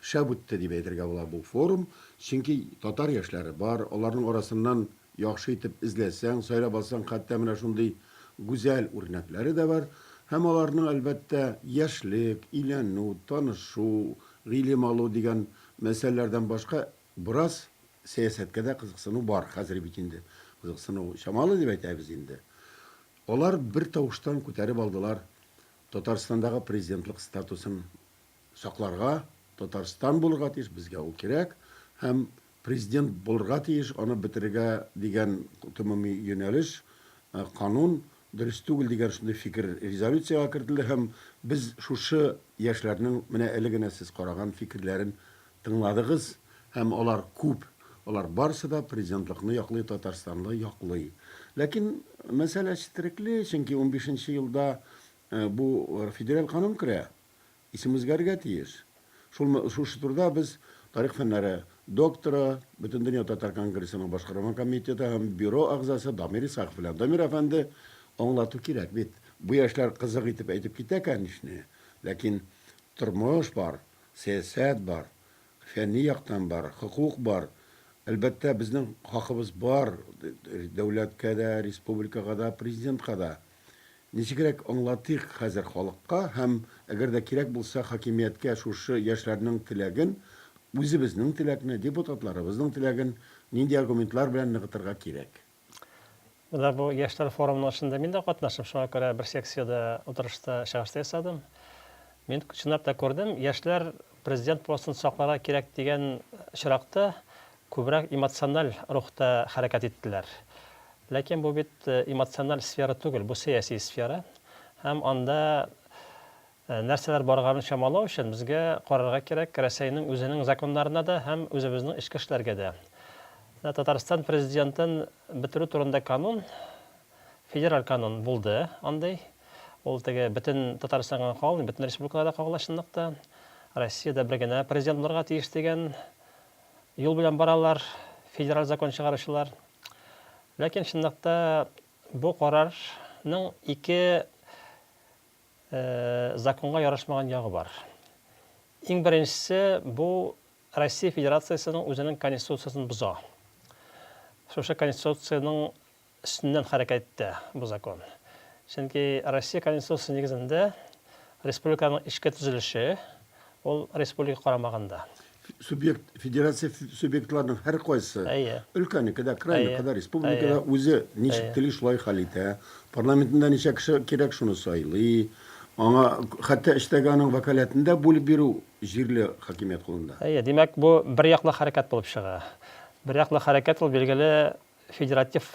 Шәп үтте дип әйтергә була бу форум, чөнки татар яшьләре бар, аларның арасыннан яхшы итеп эзләсәң, сайлап алсаң, хәтта менә шундый гүзәл үрнәкләре дә бар. Һәм аларның, әлбәттә, яшьлек, өйләнү, танышу, гыйлем алу дигән мәсьәләләрдән башка бераз сәясәткә дә кызыксыну бар, хәзер бит инде кызыксыну чамалы дип әйтәбез инде. Алар бертавыштан күтәреп алдылар Татарстандагы президентлык статусын сакларга, Татарстан булырга тиеш, безгә ул кирәк, һәм президент булырга тиеш, аны бетерергә дигән гомуми юнәлеш, канун дөрес түгел дигән шундый фикер резолюциягә кертелде һәм без шушы яшьләрнең менә әле генә сез караган фикерләрен тыңладыгыз һәм алар күп, алар барысы да президентлыкны яклый, Татарстанны яклый. Ләкин мәсьәлә четерекле, чөнки унбишенче елда бу федераль канун керә. Исем үзгәрергә тиеш. Шулмы, шушы турыда без тарих фәннәре докторы, Бөтендөнья татар конгрессының башкарма комитеты һәм бюро әгъзасы Дамир Исахов белән, Дамир әфәнде, аңлату кирәк бит. Бу яшьләр кызык итеп әйтеп китә, кәнишне, ләкин тормыш бар, сәясәт бар, фәнни яктан бар, хокук бар. Әлбәттә, безнең хакыбыз бар дәүләткә дә, республикага да, президентка да. Ничегрәк аңлатыйк хәзер халыкка һәм, әгәр дә кирәк булса, хакимияткә шушы яшьләрнең теләген, үзебезнең теләкне, депутатларыбызның теләген нинди аргументлар белән ныгытырга кирәк? Менә бу яшьләр форумының эшендә мин дә катнашым, шуңа күрә бер секциядә утырышта чыгыш та ясадым. Мин чынлап та күрдем, яшьләр президент постын сакларга кирәк дигән очракта, Күбрәк эмоциональ рухта хәрәкәт иттеләр. Ләкин бу бит эмоциональ сфера түгел, бу сәяси сфера. Һәм анда нәрсәләр барганын чамалау өчен безгә карарга кирәк Рәсәйнең үзенең законнарына да һәм үзебезнең эчке эшләргә дә. Менә Татарстан президентын бетерү турында канун, федераль канун булды андый. Ул теге бөтен Татарстанга гына кагылмый, бөтен республикага да кагыла чынлыкта. Россиядә бер генә президент булырга тиеш дигән. Юл белән баралар федераль закон чыгаручылар. Ләкин чынлыкта бу карарның ике законга ярашмаган ягы бар. Иң беренчесе бу Россия Федерациясенең үзенең конституциясен боза. Шушы конституциянең өстеннән хәрәкәт итә бу закон. Чөнки Россия Конституциясе нигезендә республиканың эчке төзелеше ул республика карамагында. Субъект, федерация субъектларының һәркайсы, өлкәнеке дә, крайныкы да, республика да үзе ничек тели, шулай хәл итә. Парламентында ничә кеше кирәк, шуны сайлый. Аңа хәтта эчтәге аның вәкаләтен дә бүлеп бирү җирле хакимият кулында. Әйе, димәк, бу берьяклы хәрәкәт булып чыга. Берьяклы хәрәкәт ул, билгеле, Федератив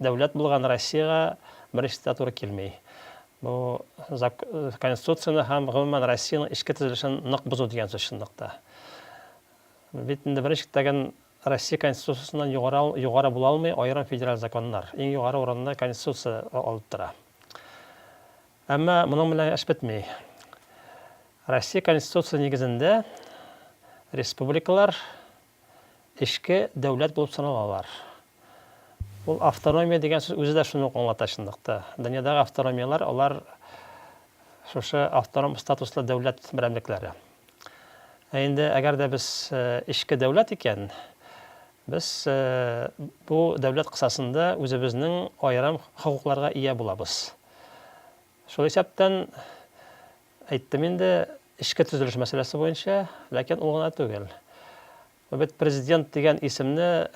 дәүләт булган Россиягә беренче диктатура килми. Бу Конституцияне һәм, гомумән, Россиянең эчке төзелешен нык бозу дигән сүз чынлыкта. Бит инде беренче чиктәген Россия Конституциясеннән югары, югары була алмый аерым федераль законнар. Иң югары урынны Конституция алып тора. Әмма моның белән эш бетми. Россия Конституция нигезендә республикалар Эчке дәүләт булып саналалар. Ул автономия дигән сүз үзе дә шуны ук аңлата чынлыкта. Дөньядагы автономияләр, алар шушы автоном статуслы дәүләт берәмлекләре. Ә инде әгәр дә без э, эчке дәүләт икән, без э, бу дәүләт кысасында үзебезнең аерым хокукларга ия булабыз. Шул исәптән Әйттем инде, эчке төзелеш мәсьәләсе буенча, ләкин ул гына түгел. Бит президент дигән исемне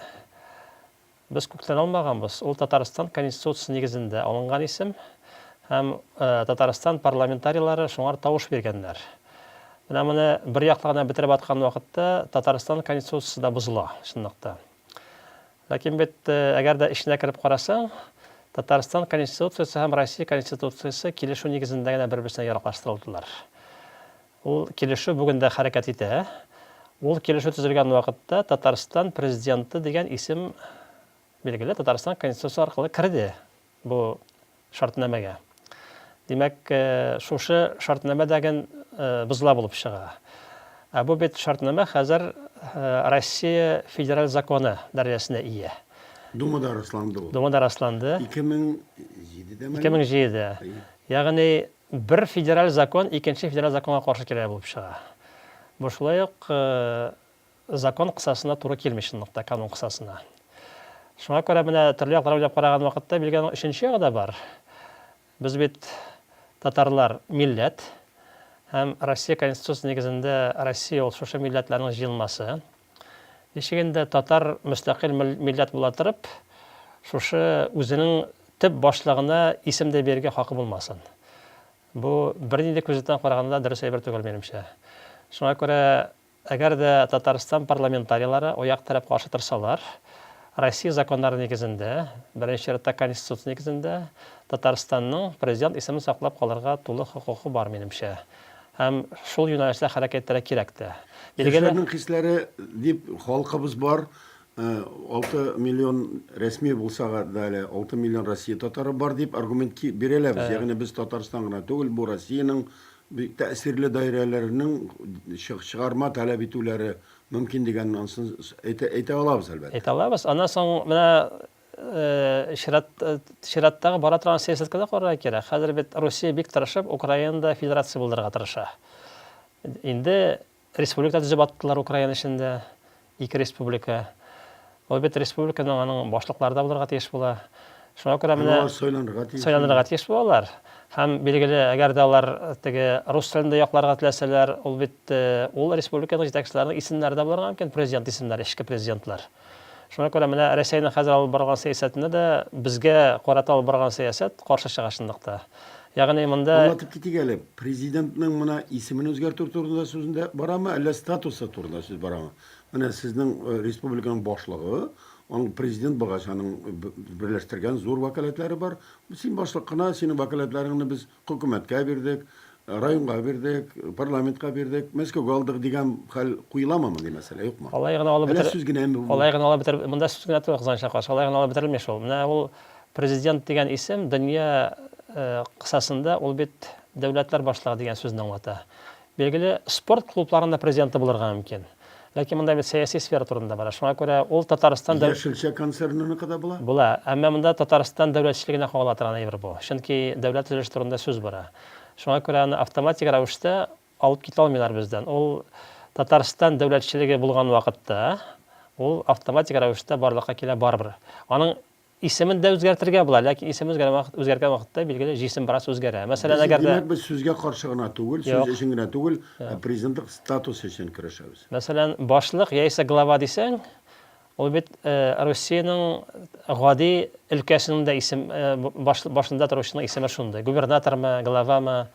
без күктән алмаганбыз. Ул Татарстан Конституциясе нигезендә алынган исем һәм Татарстан парламентарийлары шуңар тавыш биргәннәр. Менә моны бер яклы гына бетереп аткан вакытта Татарстан Конституциясе дә бозыла, чынлыкта. Ләкин бит, әгәр дә эченә кереп карасаң, Татарстан Конституциясе һәм Россия Конституциясе килешү нигезендә генә бер-берсенә яраклаштырылдылар. Ул килешү бүген дә хәрәкәт итә. Ул килешү төзелгән вакытта Татарстан Президенты дигән исем, билгеле, Татарстан Конституциясе аркылы керде. бу шартнамәгә. Димәк, шушы шартнамә дәген бозла булып чыга. Ә бу бит шартнамә хәзер Россия федераль законы дәрәҗәсенә ия. Думада расланды ул. Думада расланды. 2007-дәме? 2007-дә. Ягъни бер федераль закон икенче федераль законга каршы килә булып чыга. Бу шулай ук Закон кысасына туры килми чынлык та, канун кысасына. Шуңа күрә менә төрле яклар уйлап караган вакытта Билгәнең өченче ягы да бар. Без бит татарлар милләт һәм Россия Конституциясе нигезендә Россия ул шушы милләтләрнең җыелмасы. Ничек инде татар мөстәкыйль милләт була торып, шушы үзенең төп башлыгына исем дә бирергә хакы булмасын? Бу бернинди күзлектән караганда дөрес әйбер түгел, минемчә. Шуңа күрә Әгәр дә Татарстан парламентарийлары аяк терәп каршы торсалар, Россия законнары нигезендә, беренче чиратта Конституция нигезендә, Татарстанның Президент исемен саклап калырга тулы хокукы бар, минемчә. Һәм шул юнәлештә хәрәкәт итәргә кирәк тә. Билгеле. Яшьләрнең хисләре дип халкыбыз бар. Алты миллион рәсми булса да әле, алты миллион Россия татары бар дип аргумент бирәләбез. Ягъни без Татарстан гына түгел, бу Россиянең Бик тәэсирле даирәләрнең чыгарма таләп итүләре мөмкин дигәнне ансын әйтә алабыз, әлбәттә. Әйтә алабыз. Аннан соң менә чират, чираттагы бара торган сәясәткә дә карарга кирәк. Хәзер бит Русия бик тырышып Украинада федерация булдырырга тырыша. Инде Республика төзеп аттылар Украина эчендә, ике республика. Ул бит республиканың аның башлыклары да булырга тиеш була. Шуңа күрә менә сайланырга тиеш. Сайланырга тиеш булалар. Һәм билгеле, әгәр дә алар теге рус телендә якларга теләсәләр, ул бит ул республиканың җитәкчеләренең исемнәре дә булырга мөмкин, президент исемнәре, эчке президентлар. Шуңа күрә менә Рәсәйнең хәзер алып барган сәясәтендә дә безгә карата алып барган сәясәт каршы чыга чынлыкта. Ягъни монда. Аңлатып китик әле, президентның мына исемен үзгәртү турында сүз дә барамы, әллә статусы турында сүз барамы? Менә сезнең республиканың башлыгы, аның президент булгач, аның берләштергән зур вәкаләтләре бар. Син башлык кына, синең вәкаләтләреңне без Хөкүмәткә бирдек, районга бирдек, парламентка бирдек, Мәскәүгә алдык дигән хәл куеламы, мондый мәсьәлә юкмы? Алай гына алып бетер. Әллә сүз генәме бу? Алай гына алып бетер. Монда сүз генә түгел, Казан чакасы. Алай гына алып бетерелми шул. Менә ул президент дигән исем дөнья кысасында ул бит дәүләтләр башлыгы дигән сүзне аңлата. Билгеле, спорт клубларының да президенты булырга мөмкин. Ләкин монда бит сәяси сфера турында бара. Шуңа күрә ул Татарстан Яшелчә концерныныкы да була? Була. Әмма монда Татарстан дәүләтчелегенә кагыла торган әйбер бу. Чөнки дәүләт төзелеше турында сүз бара. Шуңа күрә аны автоматик рәвештә алып китә алмыйлар бездән. Ул Татарстан дәүләтчелеге булган вакытта ул автоматик рәвештә барлыкка килә барыбер. Аның Исемен дә үзгәртергә була, ләкин исем үзгәргән вакыт, үзгәргән вакытта, билгеле, җисем бераз үзгәрә. Мәсәлән, Без, әгәр дә... димәк, без сүзгә каршы гына түгел, сүз Юк. өчен генә түгел, ә президентлык статусы өчен көрәшәбез. Мәсәлән, башлык яисә глава дисәң, ул бит э, Русиянең гади өлкәсенең дә исем, э, баш, башында торучының исеме шундый. Губернатормы, главамы.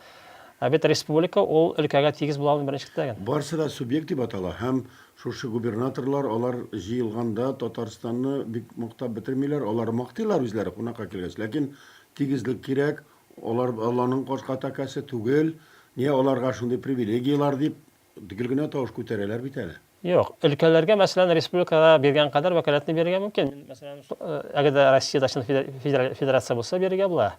Ә бит республика ул өлкәгә тигез була алмый беренчелектә генә. Барысы да субъект дип атала һәм Шушы губернаторлар, алар җыелганда Татарстанны бик мактап бетермиләр, алар мактыйлар үзләре кунакка килгәч, ләкин тигезлек кирәк, алар Алланың кашка тәкәсе түгел, нигә аларга шундый привилегияләр дип гел генә тавыш күтәрәләр бит әле. Юк, өлкәләргә, мәсәлән, республикага биргән кадәр вәкаләтне бирергә мөмкин, мәсәлән, әгәр дә Россиядә чын федерация булса, бирергә була.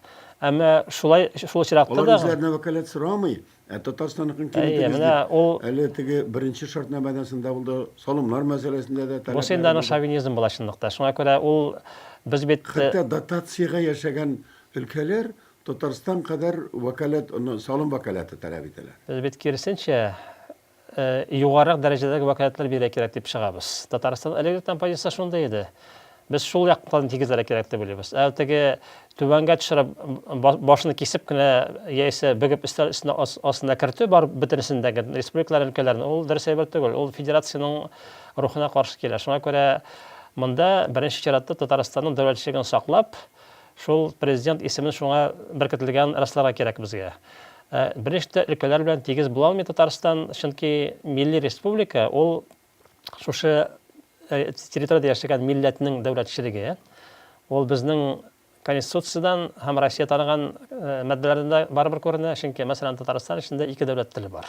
Әмма шулай, шул очракта да. Алар үзләренә вәкаләт сорамый, Ә Татарстанныкын ким Әйе, итегез менә дип, ул- әле теге беренче шартнамәдән дә булды, салымнар мәсьәләсендә дә Бу син дә аның шовинизм була чынлыкта. Шуңа күрә ул без бит Хәтта дотациягә яшәгән өлкәләр Татарстан кадәр вәкаләт, ну, салым вәкаләте таләп итәләр. Без бит киресенчә югарырак дәрәҗәдәге вәкаләтләр бирергә кирәк дип чыгабыз. Татарстан Электрдан позициясе шундый иде. Без шул яктан тигезләргә кирәк дип уйлыйбыз. Ә теге түбәнгә төшереп, башны кисеп кенә яисә бөгеп өстәл өстенә астына кертү бар бөтенесен дә, республикалар, өлкәләрне, ул дөрес әйбер түгел, ул федерациянең рухына каршы килә. Шуңа күрә монда беренче чиратта Татарстанның дәүләтчелеген саклап, шул президент исемен шуңа беркетелгәнен расларга кирәк безгә. Ә бериш тә өлкәләр белән тигез була алмый Татарстан, чөнки милли республика ул шушы э, территориядә яшәгән милләтнең дәүләтчелеге. Ул безнең Конституциядән һәм Россия таныган э, маддәләрдән дә барыбер күренә, чөнки мәсәлән Татарстан эчендә ике дәүләт теле бар.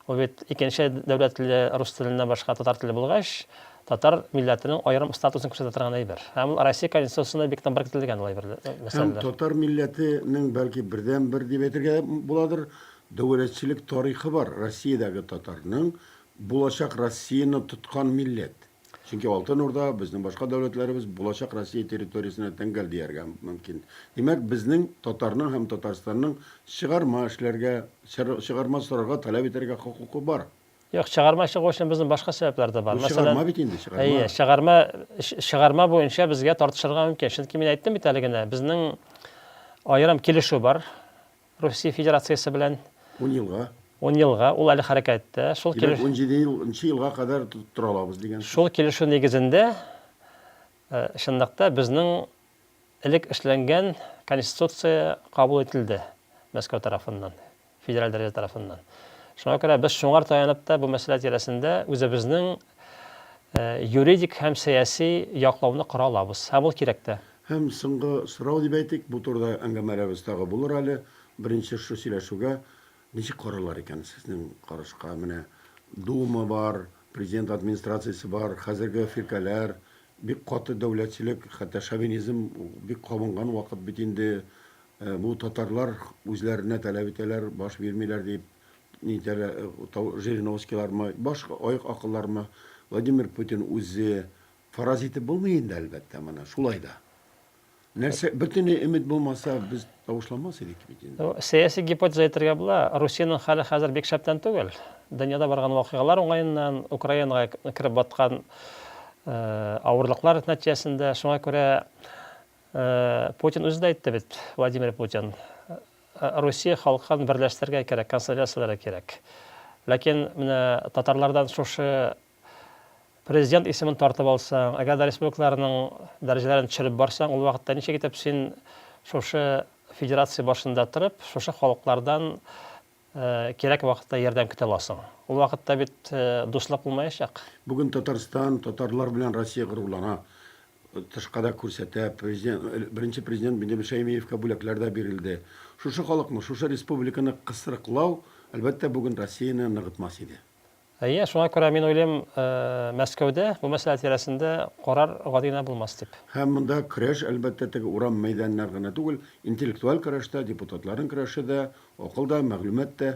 Ул бит икенче дәүләт теле рус теленнән башка татар теле булгач, татар милләтенең аерым статусын күрсәтә торган әйбер. Һәм ул Россия Конституциясендә бик томбар кертелгән ул әйбер, мәсьәләләр. Һәм татар милләте нең бәлки бердәнбер дип әйтергә буладыр, дәүләтчелек тарихы бар Россиядәге татарның, булачак Россияне тоткан милләт. Чөнки Алтын Урда, безнең башка дәүләтләребез булачак Россия территориясенә тәңгәл дияргә мөмкин. Димәк, безнең татарның һәм Татарстанның чыгарма эшләргә, чыгарма сорарга, таләп итәргә хокукы бар. Юк, чыгарма чыгу өчен безнең башка сәбәпләр дә бар. Бу чыгарма бит инде, чыгарма. Әйе, чыгарма, чыгарма буенча безгә тартышырга мөмкин. Чөнки мин әйттем бит әле генә, безнең аерым килешү бар. Русия Федерациясе белән. Ун елга. Ун елга, ул әле хәрәкәттә. Шул килеш. Димәк, унҗиде ел, нчы елга кадәр тора алабыз дигән. Шул килешү нигезендә, чынлык та, безнең элек эшләнгән конституция кабул ителде Мәскәү тарафыннан, федераль дәрәҗә тарафыннан. Шуңа күрә без шуңар таянып та бу мәсьәлә тирәсендә үзебезнең юридик һәм сәяси яклауны кора алабыз. Һәм ул кирәк тә. Һәм соңгы сорау дип әйтик, бу турыда әңгәмәләребез тагы булыр әле, беренче шушы сөйләшүгә ничек карыйлар икән сезнең карашка, менә Дума бар, Президент Администрациясе бар, хәзерге фиркәләр, бик каты дәүләтчелек, хәтта шовинизм бик кабынган вакыт бит инде, бу татарлар үзләренә таләп итәләр, баш бирмиләр дип. Жириновскийлармы, башка аек акыллармы, Владимир Путин үзе фараз итеп булмый инде, әлбәттә, моны. Шулай да. Нәрсә, бөтенләй өмет булмаса, без тавышламас идек бит инде. Сәяси гипотеза әйтергә була, Русиянең хәле хәзер бик шәптән түгел. Дөньяда барган вакыйгалар уңаеннан, Украинага кереп баткан авырлыклар нәтиҗәсендә, шуңа күрә Путин үзе дә әйтте бит, Владимир Путин, Русия халкын берләштерергә кирәк, консолидацияләргә кирәк. Ләкин менә татарлардан шушы президент исемен тартып алсаң, әгәр дә республикаларның дәрәҗәләрен төшереп барсаң, ул вакытта ничек итеп син шушы федерация башында торып, шушы халыклардан Кирәк вакытта ярдәм көтә аласың. Ул вакытта бит дуслык булмаячак. Бүген Татарстан татарлар белән Россия горурлана, тышка да күрсәтә. Президент, Беренче Президент Биндибл Шәймиевка бүләкләр дә бирелде. Шушы халыкны, шушы республиканы кысрыклау, әлбәттә, бүген Россияне ныгытмас иде. Әйе, шуңа күрә мин уйлыйм, Мәскәүдә бу мәсьәлә тирәсендә карар гади генә булмас дип. Һәм монда көрәш, әлбәттә, теге урам мәйданнары гына түгел, интеллектуаль көрәш тә, депутатларның көрәше дә, акыл да, мәгълүмат та,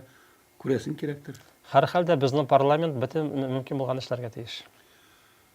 күрәсең, кирәктер. Һәрхәлдә, безнең парламент бөтен мөмкин булганны эшләргә тиеш.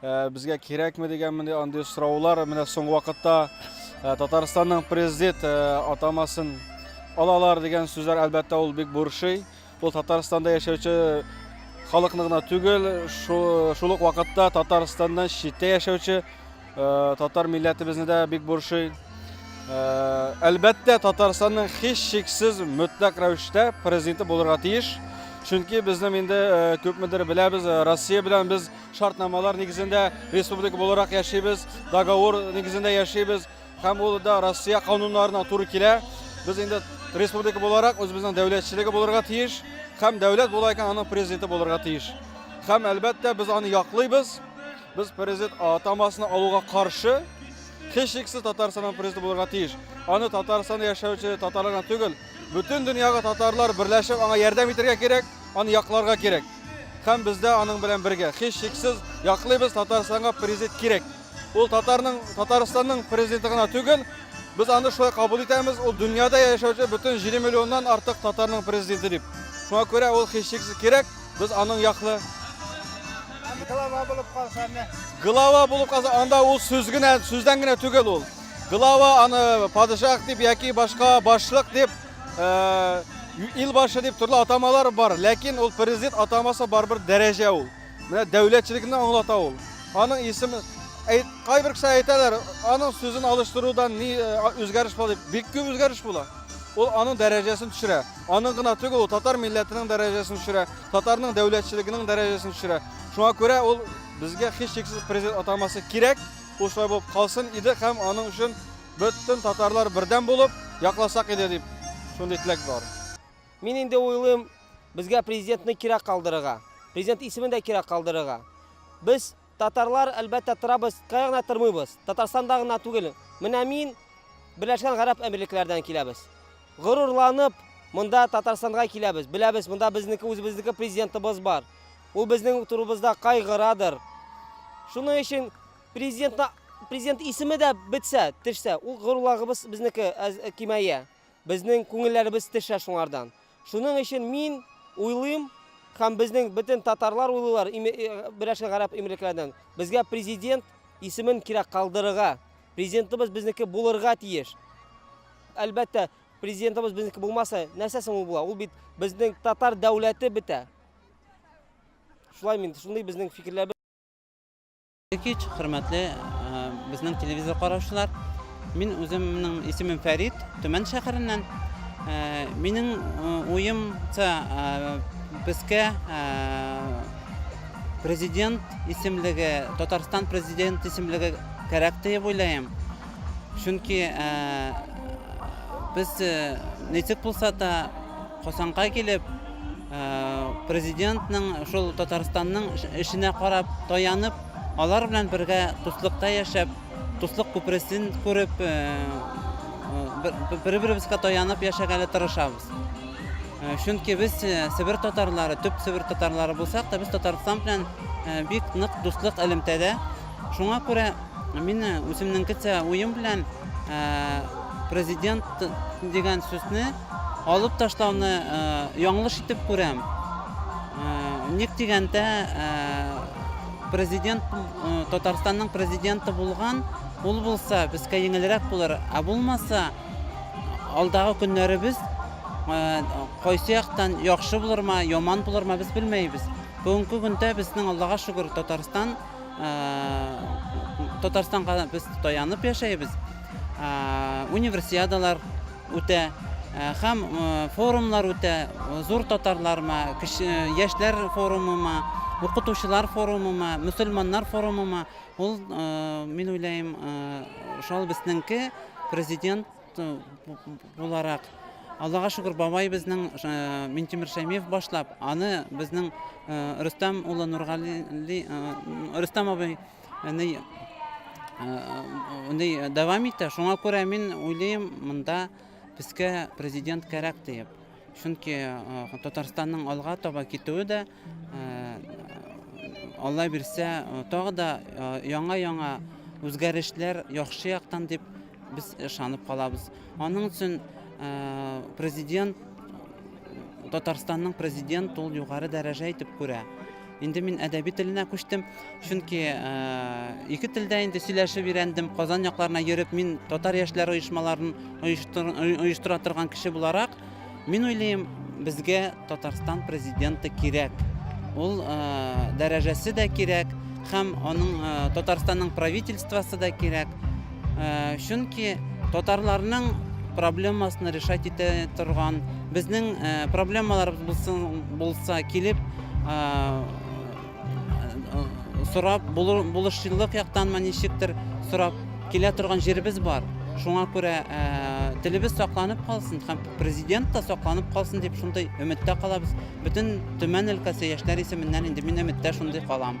Э, безгә кирәкме дигән менә андый сораулар менә соңгы вакытта э, Татарстанның президент э, атамасын алалар дигән сүзләр әлбәттә ул бик борчый. Ул Татарстанда яшәүче халыкны гына түгел, шул ук вакытта Татарстаннан читтә яшәүче татар милләтебезне дә бик борчый. Әлбәттә, Татарстанның һич шиксез мөтләк рәвештә президенты булырга тиеш. Чөнки безнең инде күпмедер беләбез, Россия белән без Шартнамалар нигезендә республика буларак яшибез, договор нигезендә яшибез һәм ул да Россия кануннарына туры килә. Без инде республика буларак үзебезнең дәүләтчелеге булырга тиеш һәм дәүләт була икән аның президенты булырга тиеш. Һәм әлбәттә без аны яклыйбыз. Без президент атамасына алуга каршы һичшиксез Татарстанның президенты булырга тиеш. Аны Татарстанда яшәүче татарлар түгел, Бөтен дөньягы татарлар берләшеп аңа ярдәм итәргә кирәк, аны якларга кирәк. Һәм без дә аның белән бергә. Һич шиксез яклыйбыз, Татарстанга президент кирәк. Ул татарның, Татарстанның президенты гына түгел, без аны шулай кабул итәбез, ул дөньяда яшәүче бөтен 7 миллионнан артык татарның президенты дип. Шуңа күрә ул һич шиксез кирәк, без аның яклы. Глава булып калса, глава булып калса, анда ул сүз генә, сүздән генә түгел ул. Глава аны падишах дип яки башка башлык дип, ил башы дип төрле атамалар бар, ләкин ул президент атамасы барыбер дәрәҗә ул. Менә дәүләтчелекне аңлата ул. Аның исеме кайбер кеше әйтәләр, аның сүзен алыштырудан ни үзгәреш була дип. Бик күп үзгәреш була. Ул аның дәрәҗәсен төшерә. Аның гына түгел, ул татар милләтенең дәрәҗәсен төшерә, татарның дәүләтчелегенең дәрәҗәсен төшерә. Шуңа күрә ул безгә һичшиксез президент атамасы кирәк. Ул шулай булып калсын иде һәм аның өчен бөтен татарлар бердәм булып якласак иде дип шундый теләк бар. Мин инде уйлыйм, безгә президентны кирәк калдырырга, президент исемен дә кирәк калдырырга. Без, татарлар, әлбәттә, торабыз, кая гына тормыйбыз, Татарстанда гына түгел. Менә мин, Берләшкән Гарәп Әмирлекләрдән киләбез. Горурланып, монда Татарстанга киләбез. Беләбез, монда безнеке, үзебезнеке президентыбыз бар. Ул безнең турыбызда кайгырадыр. Шуның өчен президентна президент исеме дә бетсә, төшсә, ул горулагыбыз безнеке кимәя. Безнең күңелләребез төшә шуңардан. Шуның өчен мин уйлыйм, һәм безнең бөтен татарлар уйлыйлар, берәшкә гарәп имрекленнән. Безгә президент исемен кирәк калдырырга. Президентыбыз безнеке булырга тиеш. Әлбәттә, президентыбыз безнеке булмаса, нәрсә соң ул була? Ул бит безнең татар дәүләте бетә. Шулай мин, шундый безнең фикерләбез. Кич, хөрмәтле безнең телевизор караучылар. Мин үземнең исемем Фәрид, Төмән шәһәреннән. Минем уемча безгә президент исемлеге, Татарстан президент исемлеге кәрәк дип уйлыйм. Чөнки без ничек булса да Казанга килеп, президентның, шул Татарстанның эшенә карап, таянып, алар белән бергә дуслыкта яшәп, дуслык күпересен күреп, бер-беребезгә таянып яшәгәле тырышабыз. Чөнки без Себер татарлары, төп Себер татарлары булсак та, без Татарстан белән бик нык дуслык элемтәдә. Шуңа күрә мин үземнең кечә уем белән президент дигән сүзне Алып ташлауны яңлыш итеп күрәм. Ник дигәндә, президент Татарстанның президенты булган, ул булса безгә еңелрәк булыр, ә булмаса алдагы көннәребез кайсы яктан яхшы булырмы, яман булырмы без белмәйбез. Бүгенге көндә безнең Аллага шөкер Татарстан Татарстанга без таянып яшәйбез. Универсиадалар үтә һәм форумнар үтә, зур татарларма, яшьләр форумыма, укытучылар форумыма, мөселманнар форумыма, ул, мин уйлыйм, шул безнеңке президент буларак, Аллага шөкер, бабай безнең Минтимер Шәймиев башлап, аны безнең Рөстәм улы Нургали, Рөстәм абый Әни ундый дәвам итә. Шуңа күрә мин уйлыйм, монда безгә президент кәрәк диеп. Чөнки Татарстанның алга таба китүе дә Алла бирсә, тагы да яңа-яңа үзгәрешләр яхшы яктан дип Без ышанып калабыз. Аның өчен президент Татарстанның президент ул югары дәрәҗә итеп күрә. Инде мин әдәби теленә күчтем, чөнки ике телдә инде сөйләшеп өйрәндем. Казан якларына йөреп мин татар яшьләр оешмаларын оештыра торган кеше буларак, Мин уйлыйм, безгә Татарстан президенты кирәк. Ул э, дәрәҗәсе дә кирәк, һәм аның э, Татарстанның правительствосы да кирәк. Э, чөнки татарларның проблемасын решать итә торган, безнең э, проблемаларыбыз булсын, булса килеп, э, сорап булышчыллык яктанмы ничектер сорап килә торган җиребез бар шуңа күрә телебез сакланып калсын һәм президент та сакланып калсын дип шундый өметтә калабыз бөтен төмән өлкәсе яшьләр исеменнән инде мин өметтә шундый калам